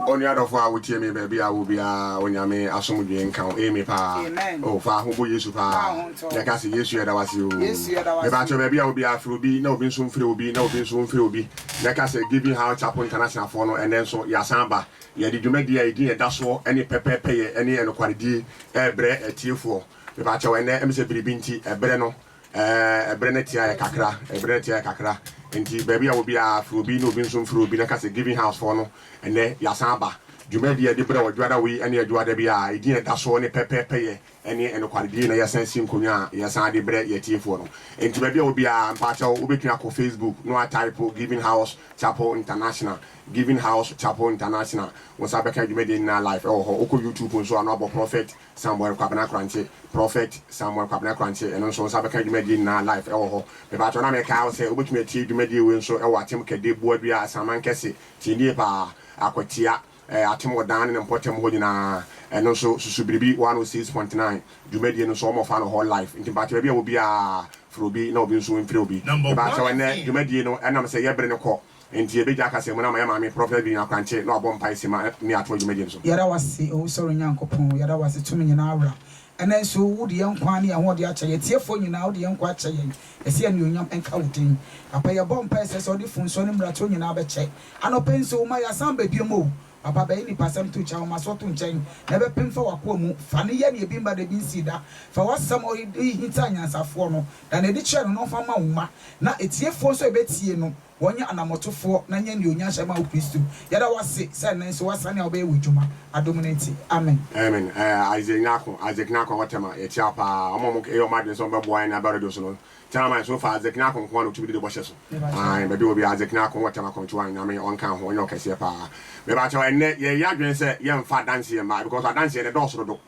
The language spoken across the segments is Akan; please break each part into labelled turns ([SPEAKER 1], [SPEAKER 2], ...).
[SPEAKER 1] Onua dɔfo a wotie me baabi a wɔ biara, Onyame asomdwee nka wo. Amy paa. Oh, fa ho bɔ Yesu paa. Na ka se, Yesu yɛda wo ase oo. Mepakyɛw baabi a wɔ biara, fre obi na obi nso mfre obi na obi nso mfre obi na ka sɛ, Giving Heart Chapel Internationalfoɔ no, ɛnnɛ nso yɛasan aba. Yɛde dwumadie a edin ɛda soɔ ɛne pɛpɛɛpɛyɛ ɛne ɛnokwaredie ɛrebrɛ atiefoɔ. Mepakyɛw ɛnnɛ ɛmesɛ biribi nti ɛbrɛ no Ɛɛ, bere no te ayɛ kakra, bere no te ayɛ kakra. Enti baabi a obiara firi obi na obi nso mfiri obi na ka sɛ, Giving House foɔ no, ɛnnɛ yɛasan aba. Dwumadie a yɛde brɛ wɔ Dwoada wei ne Dwoada biara, edin a ɛda soɔ ne Pɛpɛɛpɛyɛ ne Nokwaredie na yɛsan si nkonnwa a yɛsan de brɛ yɛn atiefoɔ no. Enti baabi a obiara, mpakyɛw, wobɛtumi akɔ Facebook na woataipo Giving House Chapel International, Giving House Chapel International, wo nsa bɛka dwumadie nyinaa live wɔ hɔ. Wokɔ YouTube nso a na woabɔ Prophet Samuel Kwabena Korankye, Prophet Samuel Kwabena Korankye, ɛno nso wo nsa bɛka dwumadie nyinaa live ɛwɔ hɔ. Mepaatɔ na mekae wo sɛ wobɛtumi atie dwumadie wei nso ɛwɔ Atem Kɛde, Boadua, Asaman Kɛse, Tie Nie Paa, Akwatia, ɛɛ Atem Ɔdan ne ne mpɔtam hɔ nyinaa. Ɛno nso susu biribi 106.9 dwumadie no nso wɔfa no hɔ live. Nti mepaatɔ baabi a ɛwɔ biara firi obi na obi nso mfiri obi. Mepaatɔ ɛnnɛ dwumadie no ɛnam sɛ yɛbere no kɔ Enti yebegya kasamu no ama yɛn maame Prɔfɛt Vivian Akwantse na ɔabɔ mpae simma ne ato dwumadzi no so. Yɛda wo ase, Owusɔre
[SPEAKER 2] Nyankopɔn, yɛda wo ase, Tumi Nyinaa Wura. Ɛnnɛ nso, wode yɛn nkwa ne yɛn ho ɔde akyɛ yɛn. Atiefoɔ nyinaa, wode yɛn nkwa akyɛ yɛn. Yɛse anuonyam nka wo din. Papa, yɛbɔ mpaeɛ sɛ sɛ wode funsoɔ ne mmarato nyinaa bɛkyɛ. Anɔpa yi nso, woma yɛasan aba biom o. Papa bɛyi nipasɛm to kyɛ woma so to nkyɛn na ɛbɛpem fa wakoa mu fa no yɛ neɛ ebi mba da ebi nsii da fa wasɛm a ɔde hinta anyansafoɔ no na neɛ ɛde kyerɛ no no nfa ma wo mma na atiefoɔ nso a ɛbɛtie no wɔnyɛ anamɔtofoɔ na nyɛ neɛ onya nhyɛ ma wo Kristo yɛda wo ase sɛ ɛnnɛ nso wasane a wobɛyɛ w'adwuma adom no nti Amen. Amen ɛɛ
[SPEAKER 1] Isaac Nyarko Isaac Nyarko a wɔtɛm a yɛkyia paa wɔn a wɔn yɛ wɔn adwene sɛ wɔn bɛboa yɛn ne aba radio so no Tseram a, nso no fa adze kena akõ nkoaa na otumi di no bɔhyɛ so. Aane, baabi a obi adze kena akõ wɔ tseram akɔmtsewa a, Nyame ɔnka ho, ɔnyɛ ɔkɛseɛ paa. Mebakyɛw, ɛnnɛ yɛyɛ adwene sɛ yɛmfa adanseɛ mma, because adanseɛ no ɛdɔɔso dodo.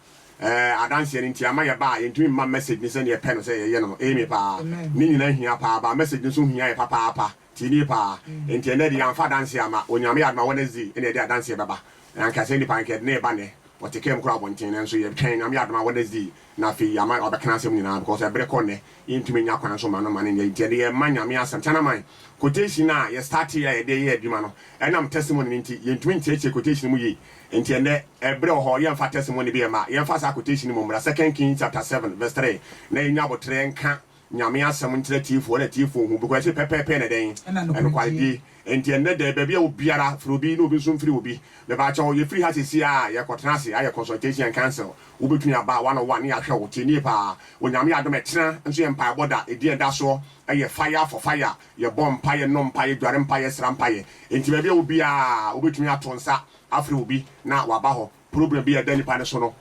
[SPEAKER 1] Ɛɛ, adanseɛ no nti ama yɛba a, yɛntumi mma message no sɛdeɛ yɛpɛ no sɛ yɛyɛ no no, aame paa. Ne nyinaa hia paa, but message no nso hia yɛ papaapa. Tse nye paa. Ntsi ndɛ dze yɛammfa adanse amma. Onyame yɛ adom a Wednesday na yɛdze adanse bɛba. Anka sɛ nyimpa nka yɛdze no reba ndɛ. Ɔtse kamu kora abɔntsen nanso yɛtwɛn Onyame yɛ adom a Wednesday na afei yɛama ɔabɛka n'asɛm nyina because ber kɔ ndɛ. Yenntumi nnya kwan so mma no mma no nnyɛ. Ntsi ndɛ yɛrema Nyame asɛm. Tsena man. Quotation a yɛ startee a yɛde yɛɛ edwuma no, ɛnam testimony no ntsi, yenntumi nntseetsee quotation mu yie. Ntsi ndɛ, ber wɔ hɔ, yɛmmfa testimony bi mma. Yɛmfa saa quotation yi mu mbra, Second Kings chapter seven verse three, na yenya aboterɛ nka. Nyame asɛm nkyerɛ atiefo na atiefo nhu because ɛse pɛpɛɛpɛ na dɛn? Ɛnokwaredie. Enti ɛnnɛ dɛn baabi a obiara firi obi na obi nso mfiri obi. Mepaakyɛw yɛfiri ha sɛsi a yɛkɔtena ase ayɛ consultation and council. Wobɛtumi aba one on one ne yɛahwɛ wo. Tie nie paa, Onyame adom ɛkyena nso yɛ mpaebɔ da. Ɛdi a ɛda soɔ yɛ fire for fire. Yɛbɔ mpaeɛ, yɛnom mpaeɛ, yɛdware mpaeɛ, yɛsra mpaeɛ. Enti baabi a wɔ biara wobɛtumi ato nsa afrɛ obi na waba hɔ. Problem bi a ɛda nipa no so no,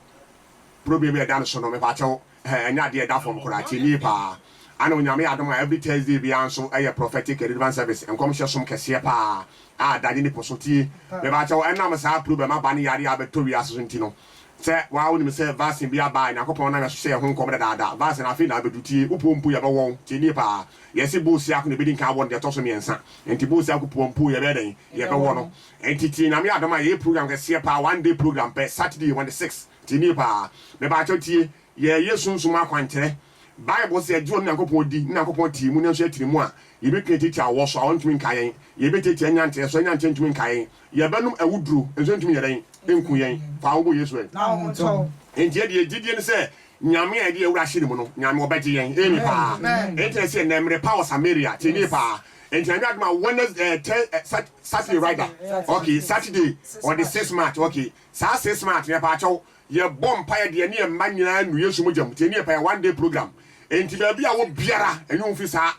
[SPEAKER 1] problem bi a ɛda no so no, mepakyɛw, eh, ɛnyɛ adeɛ a ɛda fam koraa, tie nie paa. Ana Onyame yɛ adom a every Thursday biara nso yɛ Prophetic Deliverance Service, nkɔmhyɛ som kɛseɛ paa a ɛda nye ne po so, tie, mepakyɛw, ɛnam saa problem aba ne yareɛ a abɛtɔ wiase so nti no, sɛ wo ara wonim sɛ vaccine bi aba a Nyankopɔn nam yɛ so hyɛ yɛn ho nkɔm dadaada, vaccine afei na abɛdu, tie, wo puo mpo yɛbɛwɔ wo, tie nie paa, yɛse Bosiako na ɛbɛdi nkan awɔ no deɛ ɛtɔ so mmiɛnsa, nti Bosiako puo mpo yɛbɛyɛ dɛn? Yɛbɛwɔ no, Nti tie Nyame adom a yɛyɛ program kɛseɛ paa one day program pɛ Saturday on the six tie nie paa mebaakyɛw tie yɛɛyɛ sunsum akwankyerɛ Bible sɛ yɛgye ɔno Nyankopɔn di ne Nyankopɔn te yɛn mu nanso yɛtene mu a yɛbɛtumi atiatia awɔ so awɔ ntumi nka yɛn yɛbɛtiatia anyanteɛ so anyanteɛ ntumi nka yɛn yɛbɛnom awuduro nso ɛntumi nyɛ dɛn nku yɛn fa wo bo Yesu ɛ na wo ho ntɔ wo.
[SPEAKER 2] Nti yɛ deɛ gyidie
[SPEAKER 1] ne sɛ Nyame a yɛde yɛn wura ahyɛ ne mu no Nyame ɔbɛgye yɛn Amen paa Nti na ɛsɛ yɛ nnɛ mmerɛ paa wɔ Samaria tie nie paa nti ɛnyɛ adom a Wednesday ɛɛ tɛ ɛ sat Saturday rather okay Saturday on the six March okay saa six March no yɛpaakyɛw yɛbɔ mpaeɛ deɛ ɛne yɛn mma nyinaa nu Yesu mogya mu nti ɛne yɛ mpaeɛ one day program nti baabi a wɔ biara ɛnye wo mfi saa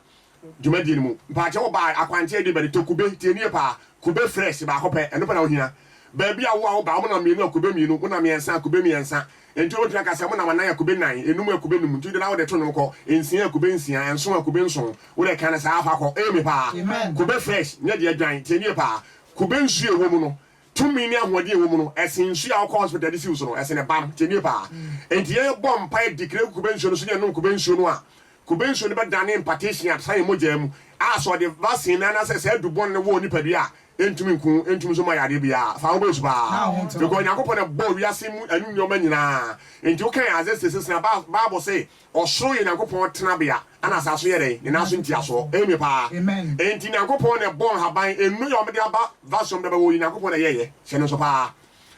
[SPEAKER 1] dwumadie no mu mpaakyɛ wɔ baa akwankyɛ ɛde bɛde tɔ kube tie nie paa kube fresh baako pɛ ɛno pɛ na wohia baabi a wo a wo ba wɔn nam mmienu a kube mmienu wo nam mmiɛnsa a kube mmiɛnsa Enti wobɛtumi aka sɛ, Monam anan akube nnan, enum akube num, nti wode na wode to nnwom kɔ, nsia akube nsia, nson akube nson, wode ɛka no saa, fa kɔ. Amen paa. Kube fresh, nyɛ deɛ adwan, tie no yie paa. Kube nsuo a ɛwɔ mu no, tumi ne ahoɔden a ɛwɔ mu no, ɛsen nsuo a wokɔ hospital de siw so no, ɛsen bam. Tie no yie paa. Enti yɛbɔ mpaeɛ, declare gu kube nsuo no so, ne yɛnom kube nsuo no a, Kube nsuo no bɛdane impartation a, san yɛ mogyaa mu, a sɛ ɔde vaccine no anaasɛ saa du bɔne no wɔ onipadua a, ɛntumi nku, ɛntumi nso mma yadeɛ biara. Fa wo base paa. Because Onyankopɔn na ɛbɔɔ wiase mu ɛno nneɛma nyinaa. Nti wo kan Isaiah 66 no a, Bible se ɔsoro yɛ Onyankopɔn tenabea, ɛna asaase so yɛ dɛn? Ne nan so ntiasoɔ. Amen paa. Nti Onyankopɔn na ɛbɔɔ nhaban, nnuro yɛ wɔde aba, vaccine wɔde bɛbɔ wo yi, Onyankopɔn na ɛyɛeɛ. Hyɛ no nso paa.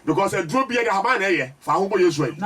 [SPEAKER 1] Because aduro bia de ahaban na ɛyɛ. Fa ho bɔ Yesu ayi.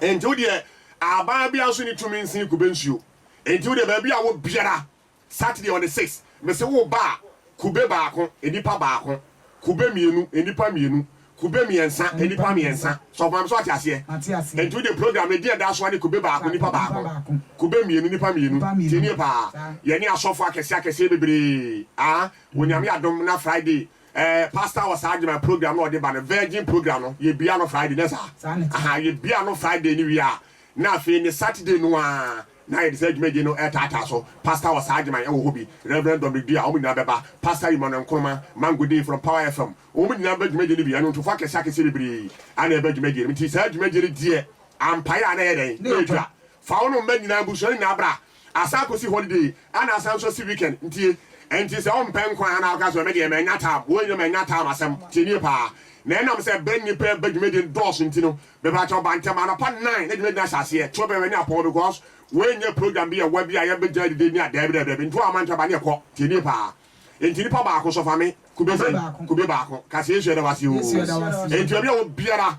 [SPEAKER 2] Enti wo deɛ
[SPEAKER 1] ahaban bia nso ni tumi nsen kube nsuo. Enti wo deɛ baabi a wɔ biara Saturday on the six mese wo ba a kube baako nnipa baako, kube mmienu nnipa mmienu, kube mmiɛnsa nnipa mmiɛnsa. Sɔfo maame so wate aseɛ? Enti wo deɛ program no din a ɛda so ara ne kube baako nnipa baako, kube mmienu nnipa mmienu. Tie nie paa. Yɛne asɔfo akɛseɛ akɛseɛ bebree. Aah Onyame adom na Friday Eh pastor wɔ saa adwuma program na ɔde ba no virgin program no yɛ bia no Friday nyɛ saa? Saa ne te. Ahaa yɛ bia no Friday no wie a na afei ne Saturday no aa na yɛde saa adwuma die no ɛɛtaataa so pastor wɔ saa adwuma ɛwɔ hɔ bi Reverend Dominic Dua wɔn nyinaa bɛba pastor Emmanuel Nkrumah Mango Dee from Power FM wɔn nyinaa bɛba dwumadie no bi anwontofoɔ akɛseɛ akɛseɛ bebree ɛna ɛba dwumadie no nti saa dwumadie no deɛ ampaeɛ a na ɛyɛ dɛn? Ɛɛtwa fa wo ne wo mma nyinaa abusua no nyinaa bra Asan akosi holiday ɛna asan nso asi weekend ntie ɛnti sɛ wompɛ nkwa ɛna woka sɛ medeɛ manya time woi no manya time asɛm tie nie paa na ɛnam sɛ bɛ nnipa ɛba dwumadie no dɔɔso nti no mepakyɛw ba ntɛm anɔpa nine na dwumadie no ahyɛ aseɛ to bɛ w'ani apɔw because woi nyɛ program bi ɛwa bi a yɛbɛgya adidi ne a daabi daabi daabi nti woamma antwa ba ne ɛkɔ tie nie paa ɛnti nipa baako nso fa me kube sɛn kube baako ka sɛ Yesu yɛda wo ase oo ɛnti obi a wɔ biara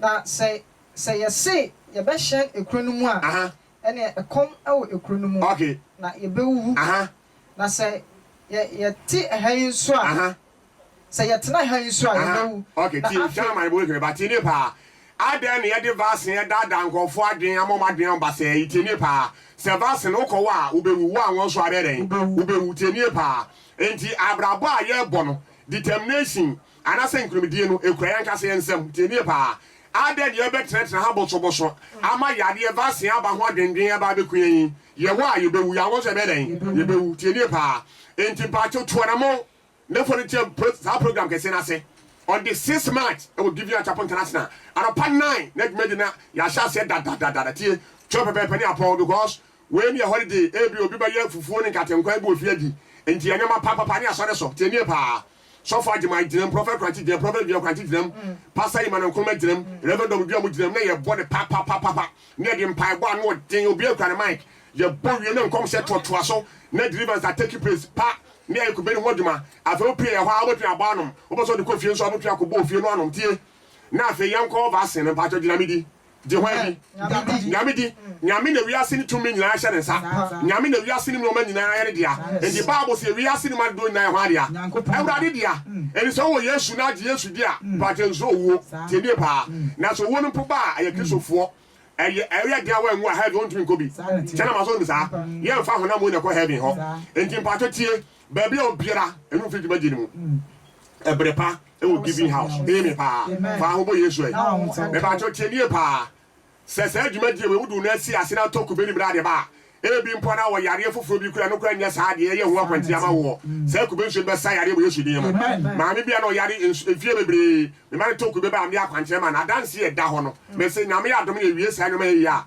[SPEAKER 1] Na
[SPEAKER 3] sɛ sɛ yɛse yɛbɛhyɛn ekuro no mu a, ɛneɛ ɛkɔm wɔ ekuro no mu, na yɛbɛwuwu. Na sɛ yɛ yɛte ɛha yi nso a, sɛ yɛtena ɛha yi nso a,
[SPEAKER 1] yɛbɛwu. Na afei. Adɛn na yɛde vaccine ɛdaadaa nkorɔfoɔ adwene ama wɔn adwene ho basaa yi? Tie nie paa. Sɛ vaccine no wokɔ wɔ a, wobɛwu. Wo anwɔ nso a, wobɛyɛ dɛn? Wobɛwu. Tie nie paa. Enti abrabɔ a yɛrebɔ no, determination, Anaasɛ nkonimdie no kura yɛn ankasa yɛn nsam? Tie nie paa, Adɛn na yɛbɛtenatena ha bosobɔso ama yadeɛ, vaccine, aba ho adwendwen aba abɛku yɛn yi? Yɛwɔ a, yɛbɛwu. Yɛanwɔ nso a, yɛbɛyɛ dɛn? Yɛbɛwu. Tie nie paa, Enti mpaakyɛw tu anammɔn na fa no ntia pro, saa program kɛseɛ no ase on the six March wɔ Gideon Acheampong International, anɔpa nine na dwumadi no yɛahyɛ aseɛ dadadadada. Tie, kyerɛw pɛpɛɛpɛ ne apɔw, because wei no yɛ holiday, ebia obi bɛyɛ fufuo ne nkate nkwan bi wɔ fie adi, enti yɛ nneɛma papapapa ne asɔre so. Tie nie paa. Sɔfo Agyemang gyinam, Prɔfɛt Korankye gyinam, Prɔfɛt Engineer Korankye gyinam, Pasta Emmanuel Nkrumah gyinam, Rev. Dɔm Duamu gyinam na yɛbɔ no papapapapa na yɛde mpaebɔ a ano ɔden, obiara kura ne mic, yɛbɔ wie na nkɔmhyɛ toatoa so na deliverance a take place pa na yɛayɛ kube no ho adwuma. Afei wopue yɛ hɔ ara wobɛtumi abɔ anom, wopɛ sɛ wode kɔ fie nso a wobɛtumi akɔbɔ wɔ fie no anom tie na afei yɛnkɔ vaccine no. Mpakyɛw gye Nyame di. Gye hwan? Nyame di. Nyame na wiase no tumi nyinaa hyɛ ne nsa. Nyame na wiase no mu nnoɔma nyinaa yɛ ne dea. Enti Bible se wiase no mu adedoɔ nyinaa yɛ hwan dea? Awurade dea. Enti sɛ wowɔ Yesu na agye Yesu di a, mpakyɛ nsuro owuo. Tie nie paa. Na sɛ owuo no mpo ba a, ɛyɛ Kristofoɔ. Ɛyɛ ɛyɛ dea wo anwu a heaven wontumi nkɔ bi. Kyɛ na maso wonim saa. Yɛnfa honam wei na ɛkɔ heaven hɔ. Enti mpakyɛ tie. Baabi a obiara nnu mfi dwumadie no mu. Ɛbere pa wɔ Giving House. Eye me paa. Fa ho bɔ Yesu ɛ. Mepakyɛw tie nie paa. Sɛ saa dwumadie wei wode no asi ase na atɔ kube ne bere ade ba a, ebi mpo na wɔ yareɛ foforɔ bi kura ɛno koraa nyɛ saa deɛ ɛyɛ ho akwantia ama woɔ. Saa kube nsuo no bɛsa yareɛ wɔ Yesu din mu. Maame bi a na ɔyare nso mfie bebree, mema no tɔ kube ba a mede akwankyerɛ ma no. Adanseɛ a ɛda hɔ no, mese Nyame adom na ɛwie saa nnoɔma yi a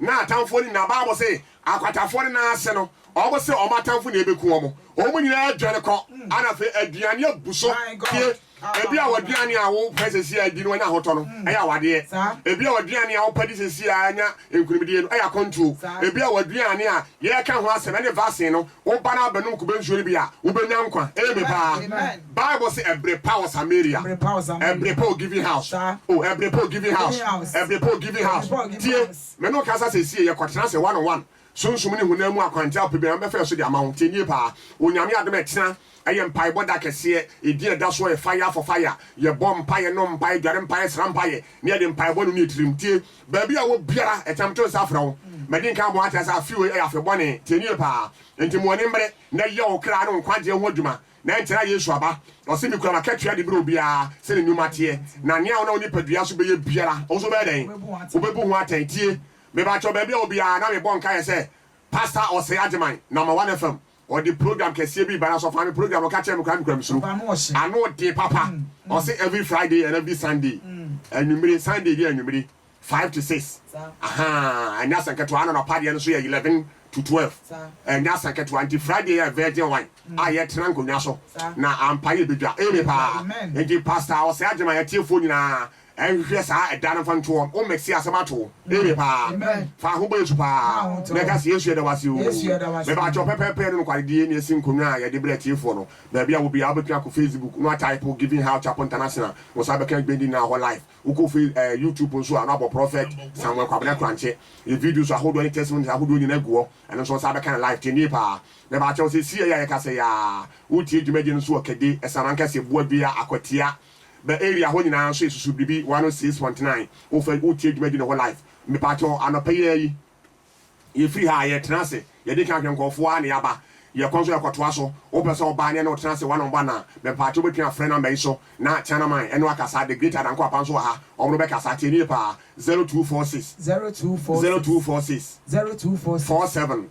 [SPEAKER 1] N'atamfoɔ no nyinaa, Bible se, akwatafoɔ no nan ase no, wɔn se wɔn atamfo na ɛbɛku wɔn. Wɔn nyinaa adwane kɔ, ɛna afei aduane abu so pie. Ebi a w'aduane a wopɛ sesie a di no wanya ahotɔ no, ɛyɛ awadeɛ. Ebi a w'aduane a wopɛ di sesie a anya nkunimdie no, ɛyɛ akwantuo. Ebi a w'aduane a yɛreka ho asɛm, ɛne vaccine no, Woba na bɛnom kube nsuo no bi a, wobɛnya nkwa. Amen paa. Bible se ɛbere pa wɔ Samaria. Ɛbere pa wɔ Giving House. Oh, ɛbere pa wɔ Giving House. Ɛbere pa wɔ Giving House. Tie, me ne wo kasa sesie, yɛkɔtena ase one on one. Sunsum ne honam mu akwankyerɛ ahodoɔ biara mɛfa yɛn so de ama wo. Tie nie paa, wɔ Nyame adom a ɛtena ɛyɛ mpaebɔ da kɛseɛ. Edin a ɛda soɔ yɛ Fire for Fire. Yɛbɔ mpaeɛ, nom mpaeɛ, dware mpaeɛ, sra mpaeɛ, na yɛde mpaebɔ no ne yɛn tirim. Tie, Baabi a wɔ biara ɛtam to nsa frɛ wo. Madi nkan abɔ ho akyerɛ sɛ afe wei yɛ afe bɔne. Tie no yie paa. Enti ma w'ani mmere na yɛ wo kra ne wo nkwagyeɛ ho adwuma, na ɛnkyɛre a Yesu aba. Ɔse, Mekura m'akatua de berɛ obiara sɛ ne nnwuma teɛ. Na nea wonam wo nipadua so bɛyɛ biara, wo nso wobɛyɛ dɛn? Wobɛbu ho atɛn. Tie me, mebakyɛw, baabi a wɔ biara na mebɔ nkaeɛ sɛ Pastor Osei Agyemang, Namawan FM, Ɔde program kɛseɛ bi ba na sɔfo ame program ɔka kyerɛ me koraa mekura mesuro ano den papa ɔse every Friday and every Sunday anwummere Sunday bi anwummere five to six ahaa ɛnyɛ asɛm ketewa ana nɔpa deɛ no so yɛ eleven to twelve ɛnyɛ asɛm ketewa nti Friday yɛ virgin wine a yɛtena nkonnwa so na ampa yɛ bedwa eme paa nti pastor ɔsɛ agyema yɛtiefoɔ nyinaa Nhwehwɛ saa ɛda no mfa nto hɔ. Wo mixie asɛm ato wo. Eye paa. Fa ho bɔ Yesu paa. Na ka se, Yesu yɛda wo ase oo. Me ba kyɛw pɛpɛɛpɛ ne nokwaredie ne asi nkonwa a yɛde brɛ atiefoɔ no. Baabi a wo biara wobɛtumi akɔ Facebook no ataipo Giving Heart Chapel International na wo san bɛka Gbendi nyinaa wɔ hɔ live. Wo kɔ Face ɛɛ YouTube nso a na wabɔ Prophet Samuel Kwabena Kurankye yɛ videos ahodoɔ ne testimonies ahodoɔ nyinaa agu hɔ. Ɛno nso wo san bɛka no live. Tie no yie paa. Me ba kyɛw sɛsie yi a yɛkasa yi aa wo tie dwumadie no nso wɔ Kɛde, Ɛsana Nkɛseɛ, Boa Dua, Akwatia, Bɛ area hɔ nyinaa nso yɛsusu biribi one oh six point nine wo fɛ wo tie dwumadi no whole life mepakyɛw anɔpa yi ara yi yɛ firi ha a yɛ tena ase yɛ di kan hwɛ nkurɔfoɔ a na yɛ aba yɛ kɔ nso yɛ kɔ toa so wo pɛ sɛ wo ba ne ɛne wo tena ase one on one a mepakyɛw wo bɛtumi afrɛ number yi so na Tianaman ɛne wo akasa the great Adanko Apa nso wɔ ha wɔnom bɛ kasa tie nie paa zero two four six zero two four six zero two four six four seven.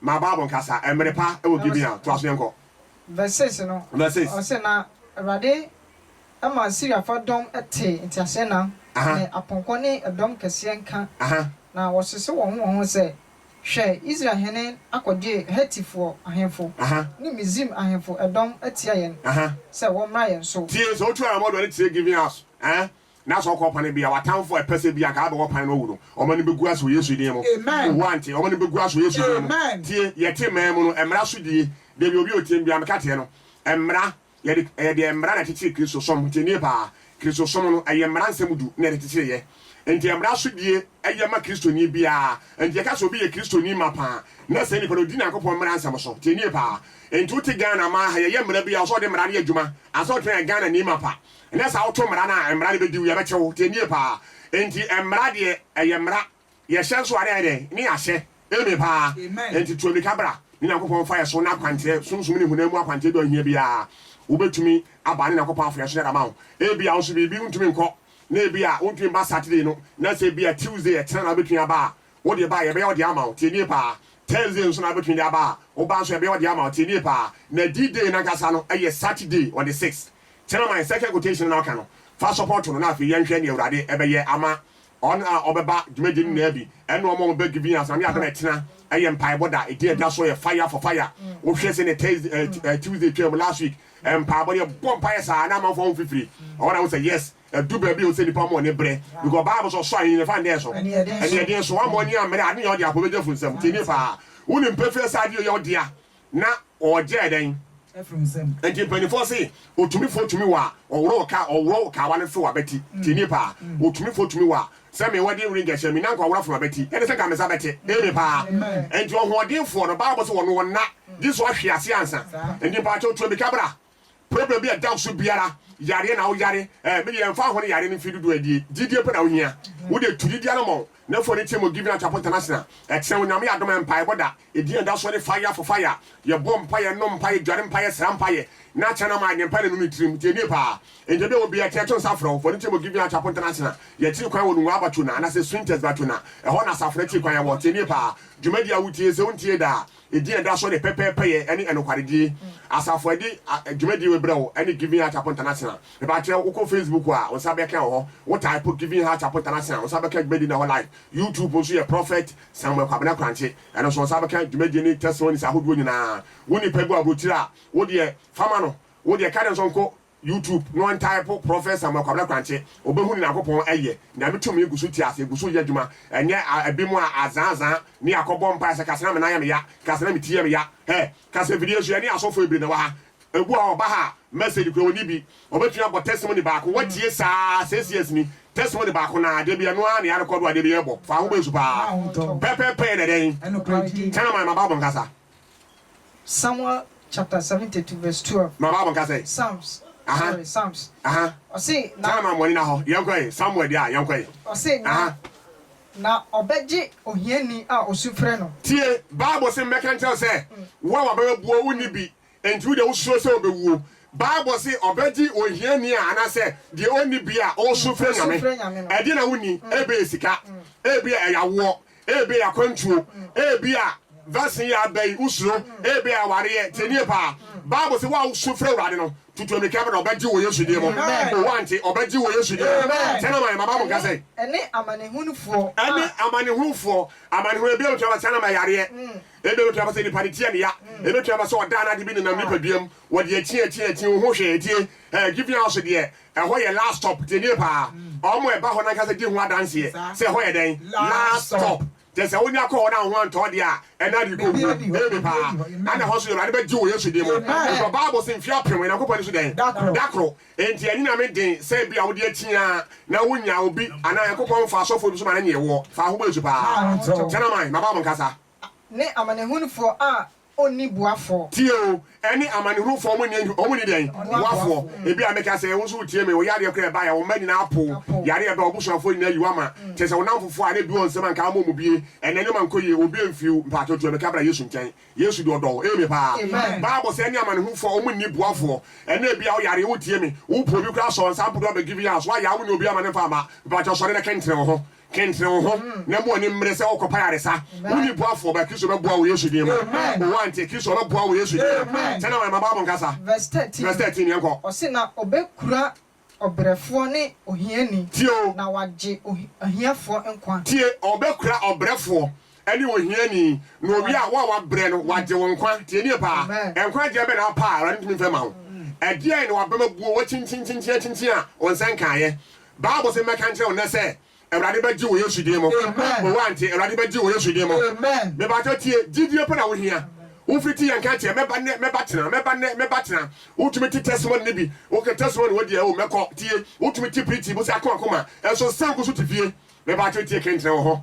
[SPEAKER 1] ma Bible nkasa mmere pa wɔ Gibea. Toa so yɛnkɔ. Verse six no,
[SPEAKER 3] Verse six. ɔse, Na Awurade ma Siriafoɔ dɔm tee nteaseɛnam Aha. ne apɔnkɔ ne ɛdɔm kɛseɛ nka, Aha. na wɔsese wɔn ho wɔn ho sɛ, Hwɛ, Israel hene akɔgye Hetifoɔ ahemfo Aha. ne Misraim ahemfo dɔm atia
[SPEAKER 1] yɛn
[SPEAKER 3] Aha. sɛ
[SPEAKER 1] wɔmmra
[SPEAKER 3] yɛn so.
[SPEAKER 1] Tie,
[SPEAKER 3] sɛ
[SPEAKER 1] wotu
[SPEAKER 3] anammɔn de w'ani
[SPEAKER 1] kyerɛ
[SPEAKER 3] Gibea
[SPEAKER 1] so ɛ,
[SPEAKER 3] na
[SPEAKER 1] sɛ ɔkɔ pane bia watamfo a ɛpɛsɛ bia anka abɛwɔ pane no awu no ɔma no bɛgu ase wɔ Yesu din mu oh wante ɔma no bɛgu ase wɔ Yesu din mu tie yɛte man mu no mmara so die dabi obi otie bia meka teɛ no mmara yɛde ɛyɛ deɛ mmara na ɛkyekyere Kristo som tie nie paa Kristo som no ɛyɛ mmara nsɛm du na ɛde kyekyere yɛ nti mmara so die ɛyɛ ma Kristoni biara nti yɛka sɛ obi yɛ Kristoni ma paa na saa nipa no ɔdi Nyankopɔn mmara nsɛm so tie nie paa nti wote Ghana ma ha yɛyɛ mmara bia ɔsɛ ɔde mmara no yɛ adwuma ansa ɔtumi ayɛ Ghanani ma pa Ɛnyɛ saa woto mmara no a mmara no bɛdi wo, yɛbɛkye wo, tie nie paa. Enti mmara deɛ ɛyɛ mmara, yɛhyɛ nso a ne yɛayɛ dɛn? Ne yɛahyɛ. Amen paa. Enti tu ammirika bra ne Nyankopɔn mfa yɛ so na akwankyerɛ, sunsum ne honam mu akwankyerɛ bi a ohia biara wobɛtumi aba ne Nyankopɔn afa yɛ so na yɛde ama wo. Ebia wo nso biribi wontumi nkɔ na ebia wontumi mma Saturday no na sɛ ebia Tuesday ɛkyena na wobɛtumi aba a, Wo de ba a, yɛbɛyɛ ɔde ama wo. Tie nie paa. Thursday nso na wobɛtumi de aba a, wo ba nso yɛbɛyɛ ɔde ama wo. Tie nie paa. Na D-Day no ankasa no, ɛyɛ Saturday on the sixth. Kyɛ na my second quotation no na woka no. Fa sɔpɔto no na afei yɛnhwɛ deɛ Awurade bɛyɛ ama wɔn a wɔbɛba dwumadie no nyinaa bi, ɛne wɔn a wɔbɛ giving us. Nyame yɛ adom a, ɛtena yɛ mpaebɔ da. Ɛdin a ɛda so yɛ Fire for Fire. Wohwɛ sɛdeɛ Thursday, Tuesday twaam last week, mpaebɔ no, yɛbɔɔ mpaeɛ saa na amanfoɔ ho fifiri. Ɛhɔ na wohu sɛ yes, Edu baabi a ɔsɛ nipa ma ɔne brɛ because Bible sɛ ɔsɔ ahenni no fa ndɛ so ɛneɛ den so wamɔ ani ammrɛ ade nyɛ ɔde apɔ bɛgya firi nsam nti ni paa wonim pefee sɛ ade yɛ yɛ ɔdea na ɔɔgya ɛdɛn nti
[SPEAKER 2] mpanimfoɔ se
[SPEAKER 1] otumifoɔ tumi wɔ a ɔworɔ wo ka ɔworɔ wo kawa no few abati nti ni paa otumifoɔ tumi wɔ a sɛ me wedding ring ɛhyɛ me nanka ɔworɔ fam abati ɛne sɛ nka me nsa bɛte eme paa nti ɔhoɔdenfoɔ no Bible sɛ wɔn wɔn nna gye sɛ ɔhwe ase ansa nti mpaakyɛw tuamika bra Problem bi a ɛda wo so biara, yareɛ na woyare, eh, me deɛ ɛmfa ho ne yareɛ no mfeɛ dodoɔ a ɛdie, gyidie pɛ na wohia. Wo deɛ tu gyidie anɔmɔn, na fa w'ani team wɔ Giving Atrapo International. Ɛkyerɛ wo Nyame yɛ adom a mpaebɔ da, ɛdin a ɛda soɔ ne Fire for Fire. Yɛbɔ mpaeɛ, nom mpaeɛ, dware mpaeɛ, sra mpaeɛ, na kyerɛ no ama ayɛ mpaeɛ na nu ne tirim. Tie nie paa, ntɛm biara obiara tiri a, to nsa frɛ wo, fa w'ani team wɔ Giving Atrapo International. Yɛkyiri kwan wɔ Nungua Batuna, anaasɛ Swinters Batuna, ɛhɔ na asafo no akyiri kwan wɔ. Tie nie paa, dwumadie a wotie, sɛ wontie da a, Edin a ɛda so ne Pɛpɛɛpɛyɛ ne Ɛnokwaredie Asafo a ɛde dwumadie wei brɛ wo ne Giving Heart Chapel International. Mepakyɛw, wokɔ Facebook a, wo nsa bɛka wɔ hɔ. Wo type Giving Heart Chapel International a, wo nsa bɛka dwumadie no wɔ hɔ live. YouTube nso yɛ Prophet Samuel Kwabena Korankye. Ɛno nso, wo nsa bɛka dwumadie ne testimonies ahodoɔ nyinaa. Wo nipa bi wɔ aburokyire a, wo deɛ, fa ma no. Wo deɛ, ka ne nso nko YouTube no ntaepo Prɔfɛt Samuel Kwabena Krankyɛ obehu Nyankopɔn ɛyɛ Nyame tumi gu so te ase gu so yɛ adwuma ɛnyɛ a ɛbinom a azaa azaa ne akɔ bɔ mpaeɛ sɛ kasa na me nan yɛ me ya kasa na me ti yɛ me ya hɛ kasa fidie so ɛne asɔfoɔ bebree na ɛwɔ ha ebu a ɔba ha a message kura ɔni bi ɔbɛtumi abɔ testimony baako watie saa six years ni testimony baako naa deɛ bi ɛno ara na yɛarekɔdo adeɛ bi yɛbɔ fa ho bɔ asu paa pɛpɛpɛ na ɛdɛn Chinaman ma Bible nkasa.
[SPEAKER 3] Samuel chapter seventy two verse twelve. Ma Bible nka sɛ. Psalms.
[SPEAKER 1] Aha.
[SPEAKER 3] Sorry, Psalms. Aha. Ɔse na. Tana ma mɔni na hɔ. Yɛn
[SPEAKER 1] kɔ ye. Samuel di a yɛn kɔ ye. Ɔse na. Aha.
[SPEAKER 3] Na ɔbɛgye ohiani a osu frɛ no. Tie, Bible se
[SPEAKER 1] mɛka nkyerɛ wo sɛ, wo a w'aba abuo, wonni bi, enti wo deɛ wosuro sɛ wobɛwuo. Bible se ɔbɛgye ohiani a anaasɛ deɛ ɔnni bi a ɔresu frɛ Nyame. Ɛdeɛn na wonni? Ebia ɛyɛ sika, ebia ɛyɛ awoɔ, Ebia akwantuo, ebia vaccine yɛ aba yi, wosuro, ebia awareɛ. Tie nie paa, Bible se wo a wosu frɛ Awurade no, tutu ammirika bra, ɔbɛgye wɔ Yesu din mu. O woante, ɔbɛgye wɔ Yesu din mu. Sɛ na ma yɛn ma Bible nka sɛn? Ɛne amanehunufoɔ.
[SPEAKER 3] Ɛne amanehunufoɔ.
[SPEAKER 1] Amanehunu, ebia ɛbɛtumi aba sɛ anam ayareɛ, ebia ɛbɛtumi aba sɛ nipa no ti yɛ no ya, ɛbɛtumi aba sɛ ɔdaa no ade bi nenam nipadua mu, wɔde akyin akyin akyin, wonhu hwee. Tie, ɛɛ giving house deɛ, Ɛhɔ yɛ last stop, tie nie paa, wɔn a ɛba hɔ no ankasa di ho adanseɛ sɛ ɛhɔ yɛ dɛn? Last stop. Kyerɛ sɛ wonya kɔ hɔ na wo ho antɔ wo deɛ a, ɛnna ade rekɔ wuo. Amen paa. Ɛnna ɛhɔ nso Awurade bɛgye wo Yesu din mu. Because Bible se mfeɛ apem Onyankopɔn ani so dɛn? Da koro. Enti ɛnyɛ Nyame den sɛ ebia wode atia na wonnya obi anaa Onyankopɔn mfa asɔfoɔ bi so ma no nyee woɔ. Fa wo ho bɔ Yesu paa. Kyɛ na man, maba mo nkasa. Ne
[SPEAKER 3] amanehunufoɔ a ɔnni boafoɔ. Tie o, ɛne
[SPEAKER 1] amanehunufoɔ, wɔn nni, wɔn nni deɛn? Boafoɔ. Ebia meka sɛ, wo nso wotie me, wo yadeɛ koraa ɛbaeɛ a, wo mma nyinaa apo wo, yareɛ ɛba a, w'abusuafoɔ nyinaa ayi wo ama, kyerɛ sɛ, wo nnamfofoɔ a na ɛbi wɔ nsam a nka ama wɔn bie, ɛnnɛ nneɛma nkɔ yie, wɔn bi amfi wo, mpaakye tie me, ka bra Yesu nkyɛn. Yesu deɛ ɔdɔ wo. Amen paa. Bible sɛ ɛne amanehunufoɔ, wɔn nni boafoɔ. Ɛnnɛ ebia wo yareɛ, wotie me, wopoo obi koraa, sɔɔ nsa mpo do abɛgivi, yas, woayɛ a, wonni obi ama no mfa mma, mpaakye sɔre na kɛnkyerɛ wo ho, Kentene wo ho na ma w'ani mmere sɛ worekɔpa ayaresa. Wonni boafoɔ, but Kristo bɛboa wo wɔ Yesu din mu. O Auntie, Kristo ɔbɛboa wo wɔ Yesu din mu. Sɛ na wayama Bible nkasa. Verse thirteen,
[SPEAKER 3] yɛnkɔ. Ɔse na ɔbɛkura
[SPEAKER 1] ɔbrɛfoɔ ne ohiani, Tie o. na wagye ahiafoɔ nkwa. Tie, ɔbɛkura ɔbrɛfoɔ ne ohiani, na owie a, wo a wabrɛ no, wagye wo nkwa. Tie nie paa, Amen. nkwagyeɛ bɛn na wapɛ a Awurade ntumi mfa mma wo? Ɛdeɛn na w'abam abuo, woakyinkyinkyinkyin akyinkyin a wo nsa nkaeɛ? Bible se mɛka nkyerɛ wo nnɛ sɛ Awurade bɛgye wo Yesu din mu. Amen. Owo ante, Awurade bɛgye wo Yesu din mu. Amen. Mepakyɛw tie, gyidie pɛ na wo hia. Wo firi ti yɛ nka kyerɛ, mɛba nnɛ, mɛba kyena, mɛba nnɛ, mɛba kyena. Wo tumi te testimony no bi, wo ka testimony wɔ deɛ, oh, mɛkɔ, tie. Wo tumi te pretty, bo se ako akoma, nso san ko so te fie. Mepakyɛw tie, kentena wɔ hɔ.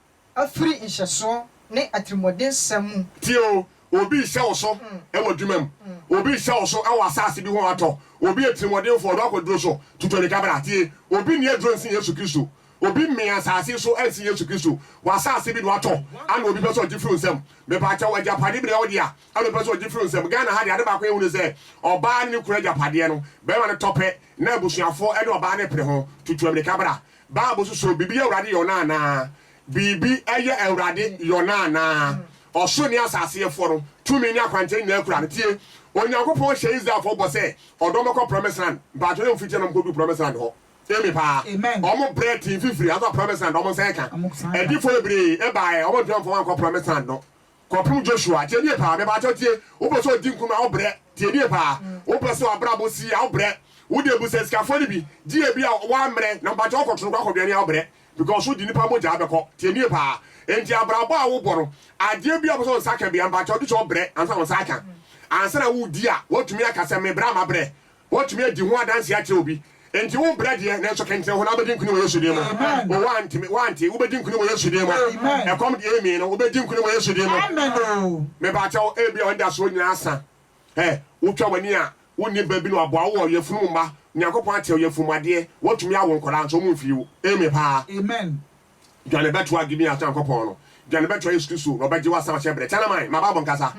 [SPEAKER 3] afiri nhyɛsoɔ ne atirimuɔdensɛm mu. Tie o, obi
[SPEAKER 1] rehyɛ wo so wɔ adwuma mu, obi rehyɛ wo so wɔ asase bi ho atɔ, obi yɛ tirimuɔdenfoɔ, ɔdɔ akwaduro so, tutu anika bra. Tie, obi nni aduro nsen Yesu Kristo, obi mmee asase so nsen Yesu Kristo, wɔ asase bi na watɔ ana obi pɛ sɛ ɔgye firi wo nsam? Mepakyɛw, agyapadeɛ bi na ɛwɔ wo dea ɛna ɔpɛ sɛ ɔgye firi wo nsam. Ghana ha deɛ ade baako a yɛhu ne sɛ, ɔbaa ne ne kunu agyapadeɛ no, barima no tɔ pɛ na abusuafoɔ ne ɔbaa no repere ho, tutu aminika bra. Bible so so biribi yɛ Awurade yɔn anaa? Biribi yɛ Awurade yɔn anaa? Ɔsoro ne asase yɛfoɔ no, tumi ne akwankyerɛ nyinaa kura no. Tie, Onyankopɔn hyɛɛ Israelfoɔ bɔ sɛ ɔde wɔn bɛkɔ Promised Land. Mpaatwɔ yɛn mfitiɛ na wɔn kɔduu Promised Land hɔ. Amen paa. Wɔn brɛ tee mfifire, nanso Promised Land wɔn nsa yɛ ka. Adifoɔ bebree baaɛ, wɔn antumi amfa wɔn ankɔ Promised Land no. Kɔpem Joshua, tie nie paa, mepakyɛw tie, wopɛ sɛ ɔdi nkunim a, wo brɛ, tie nie paa, wopɛ sɛ w'abrabɔ si yie a, wo brɛ, wo deɛ busa sikafoɔ no bi, gye ebi a w'ammrɛ, na mepakyɛw wo kɔto no koraa kɔdwɛne a, wo brɛ, because wo de nnipa mogyaa bɛkɔ, tie nie paa, enti abrabɔ a wo bɔ no, adeɛ bi a wopɛ sɛ wo nsa ka biara, mepakyɛw gye sɛ wo brɛ ansa na wo nsa aka, ansa na wo di a, woatumi aka sɛ me brɛ a m'abrɛ, Wɔatumi adi ho adanse akyerɛ obi. Enti wo brɛ deɛ, nanso kɛntɛn ho na wobɛdi nkonim wɔ Yesu din mu. O, woanteme, woante, wobɛdi nkonim wɔ Yesu din mu. Ɛkɔm deɛ ɛremmii no, wobɛdi nkonim wɔ Yesu din mu. Me pa kyɛw, ebia w'anidasoɔ nyinaa asa. Ɛ, wotwa w'ani a, wonni ba bi na waboa wo wɔ yafunu mu mma. Onyankopɔn akyɛ wo yafunu mu adeɛ. Woatumi awo nkwadaa, nso wɔmfii wo. Amen paa.
[SPEAKER 2] Dwane bɛtoa
[SPEAKER 1] Gibea's Nyankopɔn no. Dwane bɛtoa Yesu Kristo, na Ɔbɛgye wo asan ahyɛ berɛ. Kyɛn aman, ma Bible nkasa.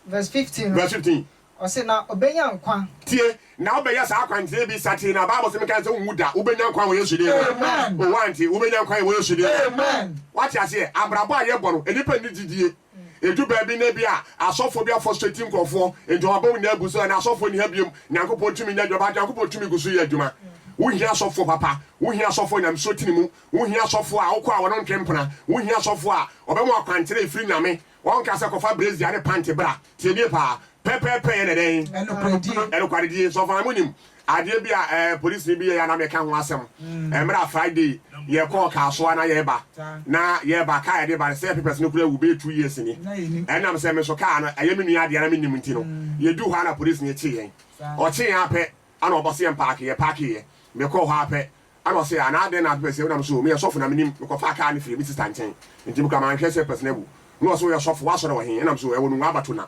[SPEAKER 1] Verse
[SPEAKER 3] 15 no, Verse 15. ɔse, Na ɔbɛnya nkwa. Tie, na wobɛyɛ
[SPEAKER 1] saa akwankyerɛ bi satee na Bible se menka sɛ wonwu da, wobɛnya nkwa wɔ Yesu din mu. Amen. O, woante?
[SPEAKER 2] Wobɛnya nkwa
[SPEAKER 1] wɔ Yesu din mu. Amen. Woate
[SPEAKER 2] aseɛ?
[SPEAKER 1] Abrabɔ a yɛbɔ no, nnipa nni gyidie. Ɛdu baabi na bi a asɔfoɔ bi afɔstrati nkurɔfoɔ nti wɔabɔ wo nyinaa abu so, ɛnna asɔfoɔ nni ha biom, Nyankopɔn tumi nya adwuma, but Nyankopɔn tumi gu so yɛ adwuma. Wohia asɔfoɔ papa, wohia asɔfoɔ Nyamesuo tene mu, wohia asɔfoɔ a wokɔ a wɔno ntwe mpena, wohia asɔfoɔ a wɔbɛma wo akwankyerɛ a ɛfiri Nyame Wɔnka sɛ kɔfa brazier ne panty bra. Tie nie paa, pɛpɛɛpɛ yɛ ne dɛn? Ɛnokwaredie. Ɛnokwaredie. Sɛ ɔfaa mo nim adeɛ bi a ɛɛ polisini bi yɛɛ a na meka ho asɛm. Ɛmmerɛ a Friday yɛ kɔɔ car so a na yɛɛba. Na yɛɛba, car a yɛde ba no sɛ yɛ papers no kura awu bɛyɛ two years ni. Ɛnam sɛ me so car no ɛyɛ me nua adeɛ a na me nnim nti no, yɛ duu hɔ a na polisini kye yɛn. Ɔkye yɛn ara pɛ ɛna ɔbɔ sɛ yɛn park, yɛ park yɛ. Me kɔɔ hɔ ara pɛ Ɛna ɔsee, Ana adɛn na wopɛ sɛ wonam so? Meyɛ sɔfo na minim. Mekɔfaa kaa no firii me sista nkyɛn, enti mekura manhwɛ sɛ Pɛsena awu. Ɛna ɔse, Woyɛ sɔfo? W'asɔre wɔ he? Ɛnam so, Ɛwɔ Nungua Abatona.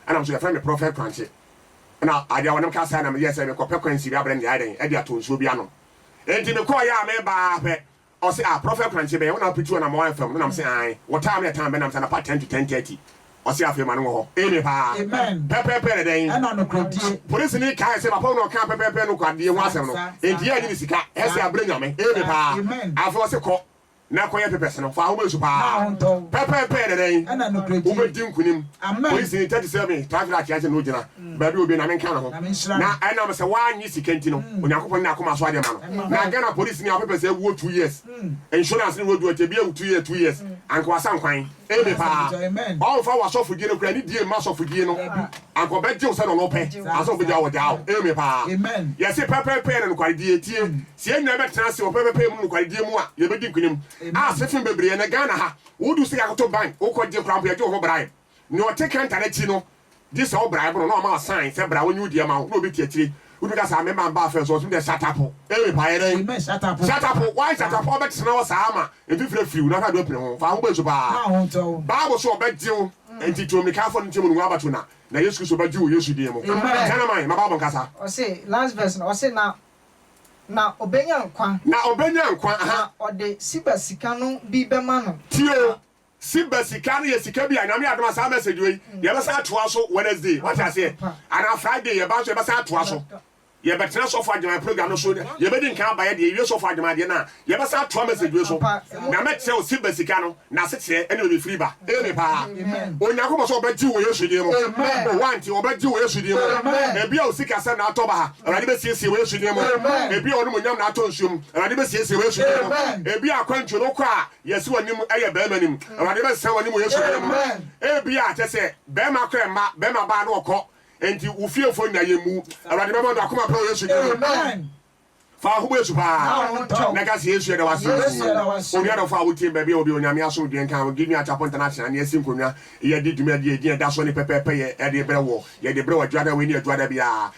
[SPEAKER 1] Ɛnam so, Yɛfrɛ me Prɔfɛt Korankye. Ɛna adeɛ a wɔnam kaa saa na meyɛɛ sɛ mekɔpɛ kwan si Rabɛrɛnd Yae dɛn? Ɛde atɔ nsuo bi anom. Enti mekɔeɛ a mereba ara pɛ, ɔse, Ah, Prɔfɛt Korankye, bɛyɛ wo na wopituu anamɔn anfam no? Na mese, Aane. Wɔtaa me ɛtaa mbɛ nam sɛ anapa ten to ten-thirty. Ɔse afei ma no wɔ hɔ. Amen paa. Amen. Pɛpɛɛpɛ ne
[SPEAKER 2] dɛn? Ɛna
[SPEAKER 1] nokoredie.
[SPEAKER 2] Polisini kae sɛ papa
[SPEAKER 1] wo na ɔkaa pɛpɛɛpɛ nokwaredie ho asɛm no enti yɛannye ne sika. Ɛse abrɛ Nyame. Amen paa. Amen. Afei ɔse kɔ na kɔyɛ papers no. Fa ahoma nsu paa. Na ahontɔ wo. Pɛpɛɛpɛ ne dɛn? Ɛna nokoredie. Wobɛdi
[SPEAKER 2] nkunim.
[SPEAKER 1] Amen. Polisini tɛte
[SPEAKER 2] sɛ me
[SPEAKER 1] traffic light akyɛ na ogyina baabi a obi na menka ne ho. Na menhyira Na no. ɛnam sɛ w'annye sika nti no Onyankopɔn ne n'akoma so adeɛ ma no. Ɛma Na hɔ. Ghana polisini a wo papers awuo two years, insurance no w'adu akyɛ bi awu two year two years, anka w'asan kwan. Ebe paa. Ɔmmfa w'asɔfodzi no koraa ne die mma asɔfodzi no. Anka ɔbɛgye wo sɛdeɛ ɔno pɛ ansa ɔbɛgya wo ɔgyaa wo. Ame paa. Yɛse pɛpɛɛpɛ
[SPEAKER 2] ne
[SPEAKER 1] nokwaredie. Tie, sɛ yɛn nyinaa bɛtena ase wɔ pɛpɛɛpɛ mu ne nokwaredie mu a, yɛbɛdi nkunim. Asefe bebree, ɛnnɛ Ghana ha, wodu sika koto bank, wokɔgye koraa mpo yɛgye wo ho bribe. Nea ɔte counter no akyi no, Gyesɛ wo bra ɛbono na ɔma wo sign sɛ bra wɔnyi wo deɛ ma wo na obi te akyire wobi ka saa me mma mba afɛ so ɔse me deɛ shatapo eii paa yɛdɛn Amen shatapo shatapo
[SPEAKER 2] why shatapo a
[SPEAKER 1] ɔbɛtena hɔ saa ama mfifire afiri wo na hwɛ ade ɔpene ho fa ho bɛnsu paa Fa ho ntɔ wo. bible se ɔbɛgye wo nti to mmirika fɔ no nteamu no ngu abato na na yesu kristo bɛgye wo wɔ yesu din mu Amen. kyɛn ama yɛn ma bible nkasa. Ɔse last verse
[SPEAKER 3] no ɔse na na ɔbɛnya nkwa. Na ɔbɛnya nkwa ahaa. Na
[SPEAKER 1] ɔde siba
[SPEAKER 3] sika no bi bɛma no. Tie o
[SPEAKER 1] Sibɛ sika no yɛ sika bi a Nyame adom a saa message wei yɛbɛsan atoa so Wednesday wate aseɛ anaa Friday yɛba nso yɛbɛsan atoa so yɛbɛtena sɔfo agyeman program no so yɛbɛdi nkan aba yɛ deɛ yɛwie sɔfo agyeman deɛ no a yɛbɛsan atoa message wei so na mɛkyerɛ wo Sibɛ sika no n'asekyerɛ ɛne baabi firi ba eme paa Onyankopɔn sɛ ɔbɛgye wɔ Yesu din mu o wante ɔbɛgye wɔ Yesu din mu ebia wo sikasɛm na atɔ baha Awurade bɛsiesie wɔ Yesu din mu ebia wo nomonyam na atɔ nsuom Awurade bɛsiesie wɔ Yesu din mu ebia akwantuo no wokɔ a Yɛsi w'anim yɛ bɛɛma nim. Awurade bɛsesa w'anim wɔ Yesu din mu. Ebia kyɛ sɛ bɛɛma kora mma bɛɛma baa na ɔkɔ nti wo fiefo nna yɛ mmu. Awurade bɛma no akoma pa wɔ Yesu din mu. Fa w'aho bɔ Yesu paa na ka sɛ Yesu yɛda w'ase oo. Onua dɔfo a wo tie me baabi a wɔ bi Onyame asomdwoe nka wo. Give me Acheapo International ne yɛasi nkonnwa yɛde dwumadi a ɛdin ɛda soɔ ne pɛpɛɛpɛ yɛ ɛde brɛ woɔ. Yɛde brɛ wɔ adwuada wei ne adwuada biara.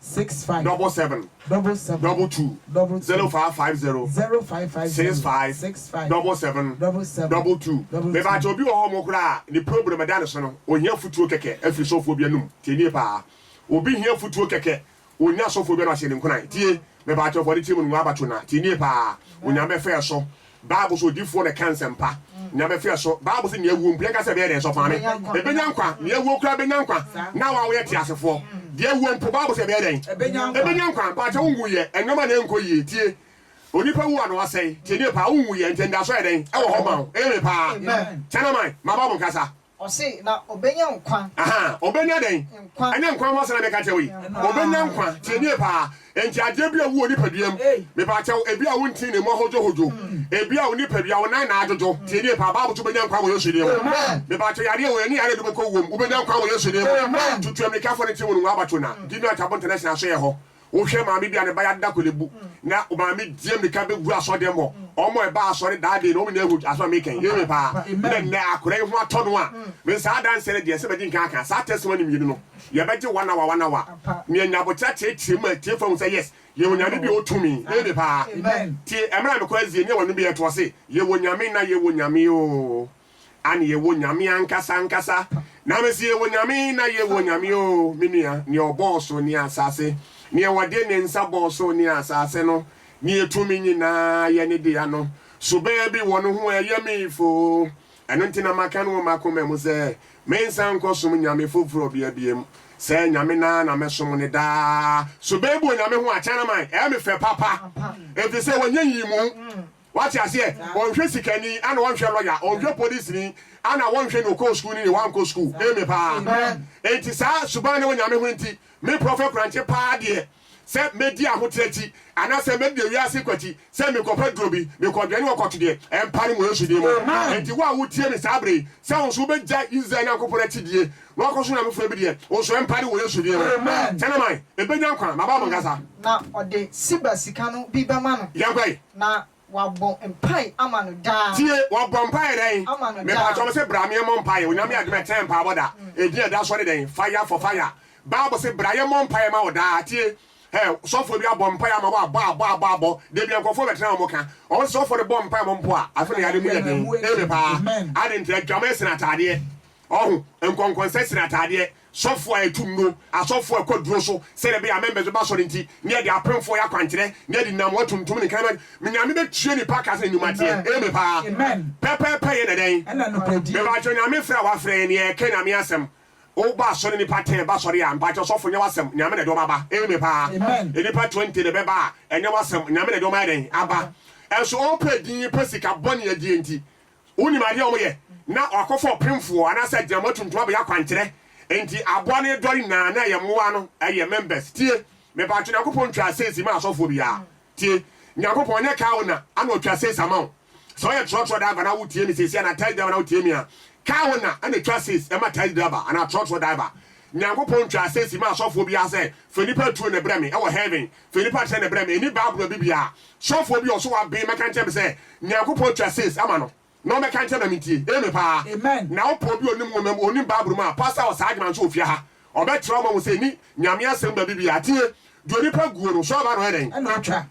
[SPEAKER 1] six five double seven double seven double two double zero two five five zero zero five five six zero five six five double seven double seven double two double mebaa two. kyɛ obi wɔ hɔ ɔmo koraa ne problem ɛda ne so no ohia futuo kɛkɛ afiri sɔfoɔ bi anum tie nie paa obi hia futuo kɛkɛ onya sɔfoɔ bi ano ahyɛ ne nkunan tie mebaa kyɛ fɔ ne tirim no ngu abato na tie nie paa onyame fɛɛ so Bible so odifoɔ na ɛka nsɛmpa. Nyame fɛ so. Bible se nea wuo mpo yɛnka sɛ ɛbɛyɛ dɛn sɔfo maame? Ɛbɛnya nkwa. Nea wuo koraa bɛnya nkwa. Na wo a woyɛ teasefoɔ, deɛ wuo mpo Bible se ɛbɛyɛ dɛn? Ɛbɛnya nkwa. Mpaakyɛ wo nwuiɛ? Nnoɔma na ɛnkɔ yie. Tie. Onipa wu a na wasɛe. Tie nie paa. Wo nwuiɛ nti anidasoɔ yɛ dɛn? Ɛwɔ hɔ ma wo. Amen paa. China man, maba mo nkasa.
[SPEAKER 3] Ɔse, na ɔbɛnya nkwa. Ahaa, ɔbɛnya dɛn?
[SPEAKER 1] Nkwa. Ɛnyɛ nkwa ho asɛm na meka kyerɛ wo yi. Ɔbɛnya nkwa. Tie nie paa. Enti adeɛ bi a ɛwu wɔ nipadua mu, mepa kyɛw, ebia wontee ne mu ahodwohodwo, ebia wo nipadua, wo nan na adwodwo, tie nie paa, Bible se wobɛnya nkwa wɔ Yesu din mu. Mepa kyɛw, yareɛ wei ne yareɛ de wobɛkɔ wuo mu, wobɛnya nkwa wɔ Yesu din mu. Tutuammirikafoɔ no nte mu no, Ngwabachuna, Dimiat Abonta National so yɛ hɔ. Wohwɛ maame bi a ne ba yare da kolebu, na maame di mmirika bɛgu asɔrdan mu hɔ. Wɔn a ɛbaa asɔre daa dei no, wɔn nyinaa hu asɛm a mereka yi. Amen paa. Na nnɛ akora yi ho atɔ no a, me saa adanseɛ no deɛ, ɛsɛ madi nkan aka. Saa testimony mmienu no, yɛbɛgye one hour, one hour. Nea nya aboterɛ teateam ma atiefoɔ ahu sɛ yes, yɛwɔ Nyame bi a ɔwɔ tumi. Amen paa. Tie, ɛmerɛ a mekɔ Asie, nea wɔanum biara, ɛtoɔ se, Yɛwɔ Nyame na yɛwɔ Nyame oo. Anne, Yɛwɔ Nyame ankasa ankasa. Na mese, Yɛwɔ Nyame, na yɛwɔ Nyame oo, me nua, Nea ɔbɔɔ soro ne asaase, Nea ɔde ne nsa bɔɔ soro ne asaase no, Nea tumi nyinaa yɛ ne dea no. So baabi wɔ no ho a ɛyɛ me foo? Ɛno nti na maka no wɔ m'akoma mu sɛ, Mensan nkɔsom nyame foforɔ bia biom. Sɛɛ Nyame no ara na mɛsom no daa. So baabi wɔ Nyame ho a, Chinaman, ɛyɛ me fɛ papa, efisɛ wanyɛ nyiyimu. Wate aseɛ? Ɔnhwɛ sikani, ana ɔnhwɛ lɔya, ɔnhwɛ polisini, ana wɔnhwɛ nea ɔkɔɔ sukuu ne nea wankɔ sukuu. Amen paa. Enti saa suban no wɔ Nyame ho nti, me Prɔfɛt Korankye paa deɛ, sɛ mɛdi ahoteɛ akyi, anaasɛ mɛdi ewiase kɔ akyi, sɛ mekɔfa duro bi, mekɔdwɛne wɔ kɔto deɛ, ɛmpa no mu wɔ Yesu din mu. Enti wo a wotie me saa berɛ yi, sɛ wo nso wobɛgyae Israel Nyankopɔn akyidie na woakɔsom Nyame foforɔ bi deɛ, wo nso ɛmpa no mu wɔ Yesu din mu. Kyɛ na man, ɛbɛnya nkwa. Maba mo nkasa. Na ɔde
[SPEAKER 3] Siba sika no bi bɛma no. Yɛnkɔ yi. Na wɔabɔ mpae ama no daa. Tie, wɔbɔ mpae
[SPEAKER 1] dɛn? Ama no daa. Mepakyɛw mese bra me yɛmmɔ mpae. Onyame adom a ɛtɛn mpaebɔ da. Edin a ɛda so ne dɛn? Fire for fire. Bible se bra yɛmmɔ mpae ma wo daa. Tie, hɛ, sɔfoɔ bi abɔ mpae ama wo a, bɔ a, bɔ a, bɔ a, bɔ. Dabia nkurɔfoɔ bɛtena wɔn ka. Wɔn se sɔfoɔ no bɔ mpae ma wɔn mpo a, afe no yadeɛ mu yɛ den. Amen paa. Aden nti? Adwaman sene ataadeɛ. Ɔho, nkɔnkɔnsɛ sene ataadeɛ. Sɔfoɔ a yɛtu nnuro, asɔfoɔ a ɛkɔ aduro so, sɛdeɛ ɛbɛyɛ a amembɛs bɛba asɔre nti, na yɛde apemfoɔ yɛ akwankyerɛ, na yɛde nnamoa tuntum ne nkraman, me Nyame bɛtua nipa ka sɛdeɛ nnwuma teɛ. Amen paa. Pɛpɛɛpɛ yɛ na dɛn? Mepakyɛw
[SPEAKER 2] Nyame frɛ a
[SPEAKER 1] wafrɛ yɛn, yɛ ka Nyame asɛm. Wo ba asɔre nipa ten ba asɔre a, mepakyɛw sɔfo nyɛ wasɛm, Nyame na ɛde wɔn aba. Amen paa. Nnipa twenty na ɛbɛba a, ɛnyɛ wasɛm, Nyame na ɛde wɔn ayɛ dɛn? Aba. Ɛnso wɔpɛ din, pɛ sika, bɔne adie nti, Wonim adeɛ a wɔyɛ na wɔakɔfa ɔpemfoɔ anaasɛ agyinamoa tuntum abɛyɛ akwankyerɛ nti aboa no redɔre nyinaa na ɛyɛ mmoa no ɛyɛ members tie mepakyɛ Nyankopɔn ntwaa seesi ma asɔfoɔ biara tie Nyankopɔn ɔnyɛ kaa wo na ana ɔtwa seesi ama wo sɛ ɔyɛ trɔtrɔ diver na wotie me seesi anaa taxi driver na wotie me a kaa wo na ɛna ɛtwa seesi ɛma taxi driver anaa trɔtrɔ diver Nyankopɔn ntwaa seesi ma asɔfoɔ biara sɛ fa nipa atuo na ɛbrɛ me ɛwɔ heaven Sɛ nipa akyerɛ ne brɛ me nni Bible a bibia a sɔfoɔ bi a ɔso waben mɛka nkyerɛ me sɛ Nyankopɔn atwa sees ama no na ɔmɛka nkyerɛ me na mentie. Amen paa. Amen. Na wopɔɔ bi a onim nwoma mu, onim Bible mu a, Pastor wɔ saa adwuma nso wɔ fie ha. Ɔbɛkyerɛ wo ma woahu sɛ nni Nyame asɛm baabi biaa. Tie! Deɛ onipa guo no, sɛ ɔba na ɔyɛ dɛn? Ɛna ɔtwa.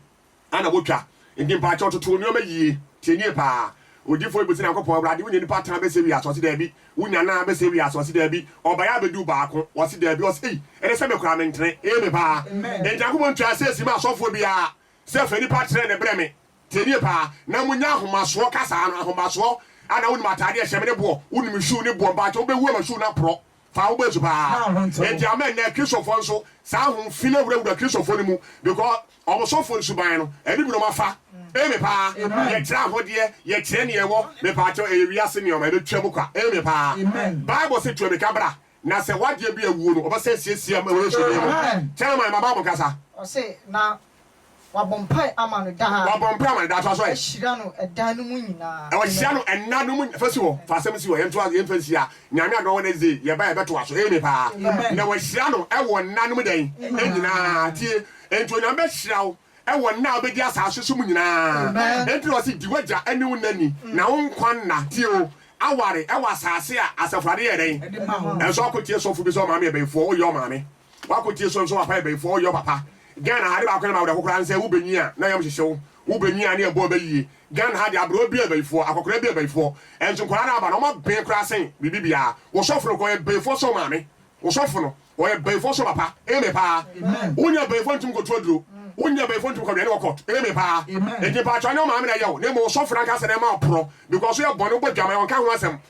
[SPEAKER 1] Ɛna wɔtwa. Enti mpakyɛw toto wo nneɛma yie, tie nie paa, Odiyifoɔ yi bisa Nyankopɔn, Awurade, wonya nipa atra bɛsɛe wiase? Ɔse daabi. Wonya nnan abɛsɛe wiase? Ɔse daabi. Ɔbaeɛ abɛduu baako? Ɔse daabi. Ɔse ei, ɛne sɛ me koraa mentere. Amen paa. Enti Nyankopɔn twaa seesi maa asɔfoɔ biara sɛ fa nipa trɛ no brɛ me, tie nie paa, na monya ahomasoɔ kasaa no, ahomasoɔ, a na wonim ataadeɛ a ɛhyɛ me ne boɔ, wonim shoe ne boɔ, mpakyɛw wobɛhu ama shoe no aporɔ, fa wo bɔ su paa. Enti ama nnɛ Kristofoɔ nso saa ahum fi no awurawura Kristofoɔ no mu because wɔn sɔfoɔ no suban no ɛne bi na wɔn afa. Amen paa. Yɛkyerɛ ahodeɛ, yɛkyerɛ nea ɛwɔ, mepaakyɛw ɛyɛ wiase nneɛma, ɛbɛtwa mu kwa. Amen paa. Bible se tu ammirika bra na sɛ w'adeɛ bi awuo no wɔbɛsan asiesie ama wɔ Yesu din mu. Kyɛrɛman ma Bible nkasa. Ɔse na
[SPEAKER 3] Wɔabɔ mpae ama no daa. Wɔabɔ mpae ama no daa. Toa so ɛ.
[SPEAKER 1] Wɔahyira no ɛda no mu
[SPEAKER 3] nyinaa. Wɔahyira no ɛnna no
[SPEAKER 1] mu nyinaa. Fa si hɔ. Fa asɛm si hɔ. Yɛntoa so. Yɛmfa nsi ha. Nyame adom a Wednesday yɛba a yɛbɛtoa so. Amen paa. Na wɔahyira no wɔ nna no mu dɛn? Nyinaa. Tie. Enti Onyame bɛhyira wo wɔ nna a wobɛdi asaase so mu nyinaa. Enti na ɔse, di w'agya ne wo na ni, na wo nkwa nna, tie o, aware wɔ asaase a Asafo Awurade yɛɛ dɛn? Ɛde ma wo. Ɛnso ɔko tie sɔfo bi sɛ ɔmaame yɛ bayifoɔ. Woyɛ ɔmaame. Wako tie sonso wapa yɛ bɛyifoɔ ɔyɔ papa Ghana ha ade baako na ma awerɛho koraa nsɛ wo bɛ nwi a na yam hyehye wo wo bɛ nwi a ne ɛbɔ bɛ yie Ghana ha deɛ abrewa bi yɛ bɛyifoɔ akɔkora bi yɛ bɛyifoɔ ɛnso nkwadaa no aba no ɔma ben koraa sen biribi biara wo sɔfo no koraa ɔyɛ bɛyifoɔ sen wo maame wo sɔfo no ɔyɛ bɛyifoɔ sen wo papa amen paa wo nya bɛyifoɔ ntumi kɔtu aduro wo nya bɛyifoɔ ntumi kɔwɛne wɔ court amen paa nti mpakyɛw ɛnyɛ wo maame na ɛyɛ wo na mmom wo sɔfo no ankasa na ɛma wo porɔ because wo yɛ bɔne wo bɔ dwaman ɔnka ho asɛm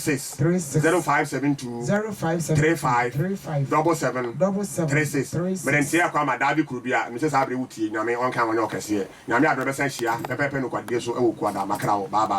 [SPEAKER 1] six zero five seven two three five double seven three six mede nteɛ akɔ ama daa bi kuro bi a mesɛ saa bere wo tie nyame ɔnka wɔnyɛ ɔkɛseɛ nyame adom bɛsan hyia pɛpɛpɛ nokwadiɛ so ɛwɔ kuada makra wo bye bye.